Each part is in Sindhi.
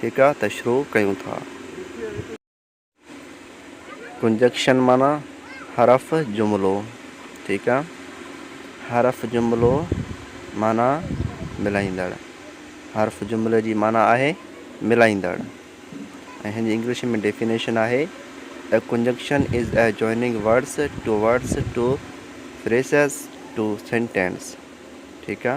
ٺيڪا ته شروع ڪيون ٿا. ڪنجڪشن معنيٰ حرف جملو ٺيڪ آ. حرف جملو معنيٰ ملائيندڙ. حرف جملي جي معنيٰ آهي ملائيندڙ ۽ هن جي انگلش ۾ ڊيفينيشن آهي A conjunction is a joining words to words to phrases to sentence ٺيڪ آ.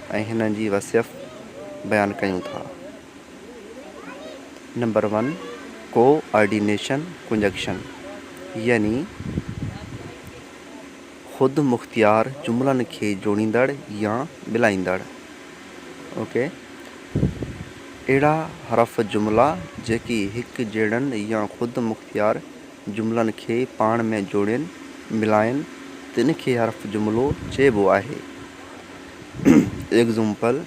۽ هنن جي وصيف بيان ڪيون ٿا. Number one, coordination conjunction يعني خود مختيار جملن کي جوڙيندڙ يا ملائيندڙ، اوڪي، اهڙا حرف جملا جيڪي هڪ جهڙن يا خود مختيار جملن کي پاڻ ۾ جوڙين، ملائين، تن کي حرف جملو چئبو آهي. Example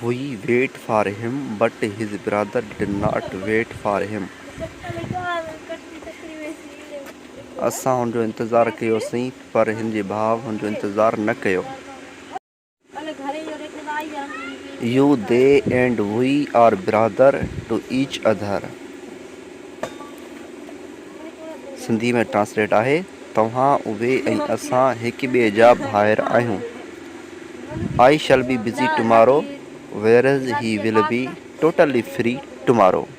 he wait for him but his brother did not wait for him اسان هن جو انتظار ڪيوسين پر هن جي ڀاء هن جو انتظار نه ڪيو you the and we are brother to each other Sindhi ۾ translate آهي، توهان، اهي ۽ اسان هڪ ٻئي جا ڀائر آهيون. I shall be busy tomorrow whereas he will be totally free tomorrow.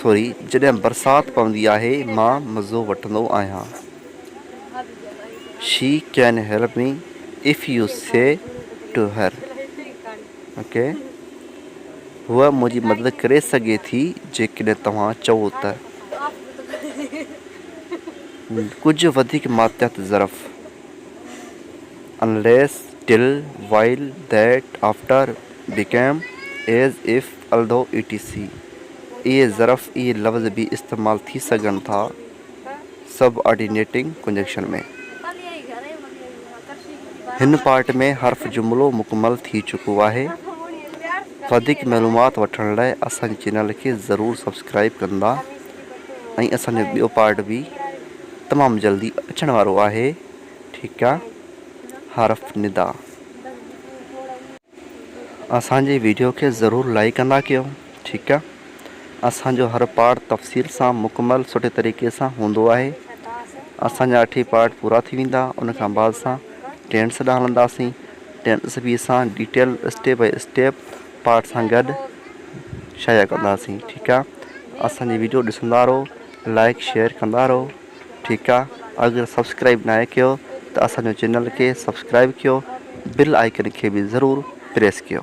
Sorry جڏهن برسات پوندي آهي مان مزو وٺندو آهيان she can help me if you say to her okay هوء منهنجي مدد ڪري سگهي ٿي جيڪڏهن توهان چئو ته ڪجهه وڌيڪ ماتحت ظرف unless till while that after became as if الدو اي ٽي سي اي ظرف اي لفظ به استعمال ٿي سگهن ٿا سب آرڊينيٽنگ ڪنجنڪشن ۾ هن پارٽ ۾ حرف جملو مڪمل ٿي چڪو آهي وڌيڪ معلومات وٺڻ لاء اسان جي چينل کي ضرور سبسڪرائب ڪندا ۽ اسان جو ٻيو پارٽ به تمام جلدي اچڻ وارو آهي ٺيڪ آ حرف ندا اسان جي ويڊيو کي ضرور لائيڪ ڪندا ڪيو ٺيڪ آ اسان جو هر پارٽ تفصيل سان مڪمل سٺي طريقي سان هوندو آهي اسان جا اٺ ئي پارٽ پورا ٿي ويندا ان کان بعد اسان ٽينس ڏانهن هلنداسين ٽينس به اسان detail step by step part سان گڏ شايع ڪنداسين ٺيڪ آ اسان جي ويڊيو ڏسندا رهو لائيڪ شيئر ڪندا رهو ٺيڪ آ اگر سبسڪرائب ناهي ڪيو ته اسان جو چينل کي سبسڪرائب ڪيو بيل آئيڪن کي به ضرور پريس ڪيو.